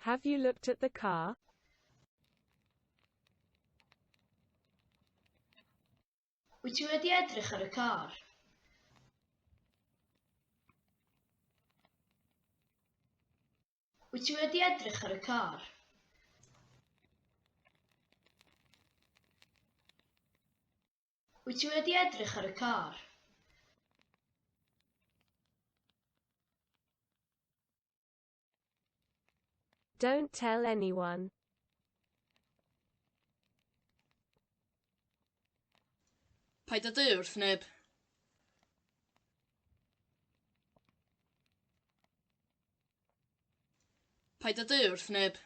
Have you looked at the car? Wyt ti wedi edrych ar y car? Wyt ti wedi edrych ar y car? Wyt ti wedi edrych ar y car? Don't tell anyone. Paid â dweud wrth neb. Paid â deu wrth neb.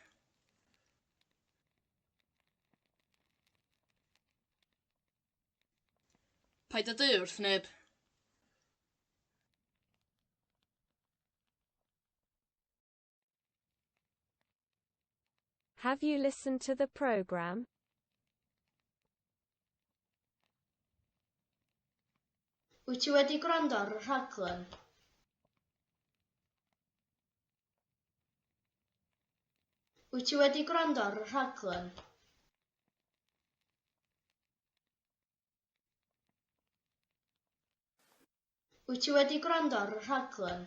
Paid â deu wrth neb. Have you listened to the programme? Wyt ti wedi gwrando ar y rhaglen? Wyt ti wedi gwrando ar y rhaglen? Wyt ti wedi gwrando ar y rhaglen?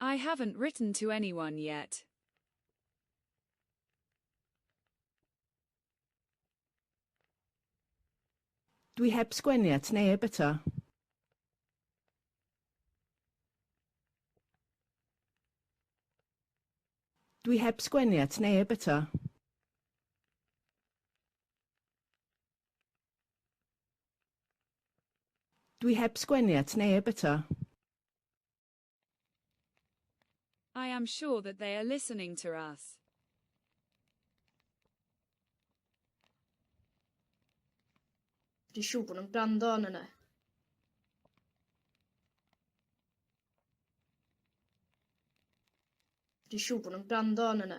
I haven't written to anyone yet. Dwi heb sgwennu at neb eto. Dwi heb sgwennu at neb eto. Dwi heb sgwennu at neb eto. I am sure that they are listening to us. Dwi'n siŵr bod nhw'n gwrando arno ni. Dwi'n siŵr bod nhw'n gwrando arno ni.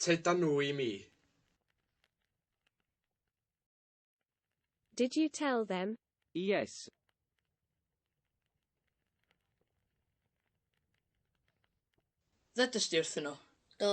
Tyda nhw i mi. Did you tell them? Yes. Ddedys di wrthyn nhw? Do.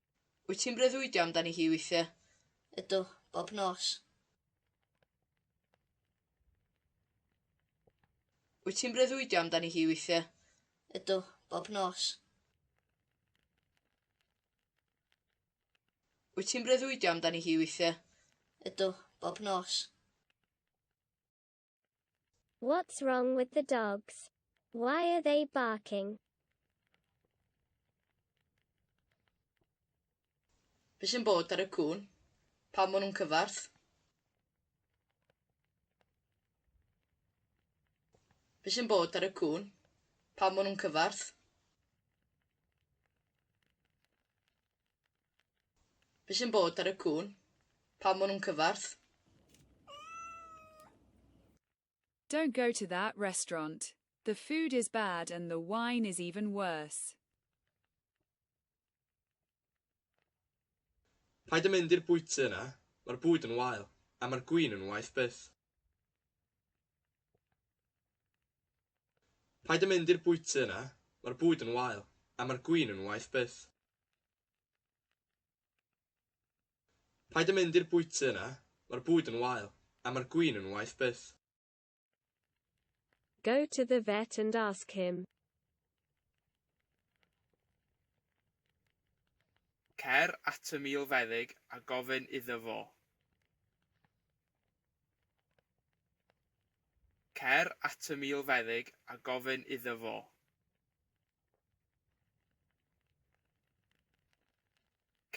Wyt ti'n breuddwydio amdani hi weithiau? Ydw, bob nos. Wyt ti'n breuddwydio amdani hi weithiau? Ydw, bob nos. Wyt ti'n breuddwydio amdani hi weithiau? Ydw, bob nos. What's wrong with the dogs? Why are they barking? Be sy'n bod ar y cŵn? Pam maen nhw'n cyfarth? Be sy'n bod ar y cŵn? Pam maen nhw'n cyfarth? Be sy'n bod ar y cŵn? Pam ma' nhw'n cyfarth? Don't go to that restaurant, the food is bad and the wine is even worse. Paid â mynd i'r bwyty yna, mae'r bwyd yn wael, a mae'r gwin yn waeth byth. Paid â mynd i'r bwyty yna, mae'r bwyd yn wael, a mae'r gwin yn waeth byth. Paid a mynd i'r bwyty yna, mae'r bwyd yn wael, a mae'r gwin yn waeth byth. Go to the vet and ask him. Cer at y milfeddyg a gofyn iddo fo. Cer at y milfeddyg a gofyn iddo fo.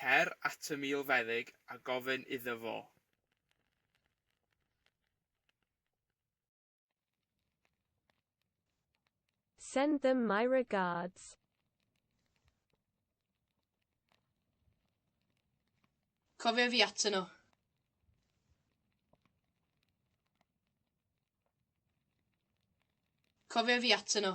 Cer at y milfeddyg a gofyn iddo fo. Send them my regards. Cofia fi atyn nhw. Cofia fi atyn nhw.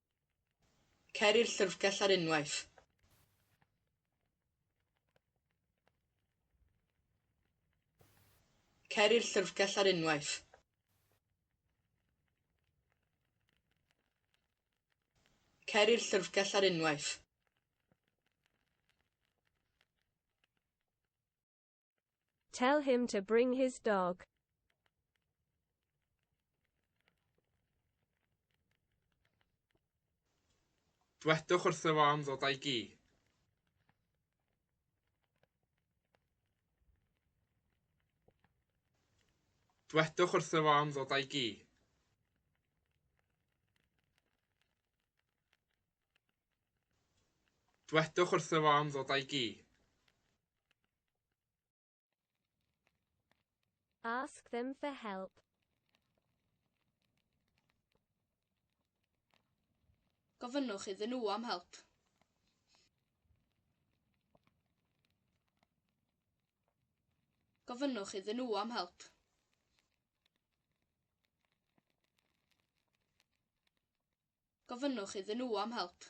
Cer i'r llyfrgell ar unwaith. Cer i'r llyfrgell ar unwaith. Cer i'r llyfrgell ar unwaith. Tell him to bring his dog. Dwedwch wrtho fo am ddod â'i gi. Dwedwch wrtho fo am ddod â'i gi. Dwedwch wrtho fo am ddod a'i gi. Ask them for help. Gofynnwch iddyn nhw am help. Gofynnwch iddyn nhw am help. gofynnwch iddyn nhw am help.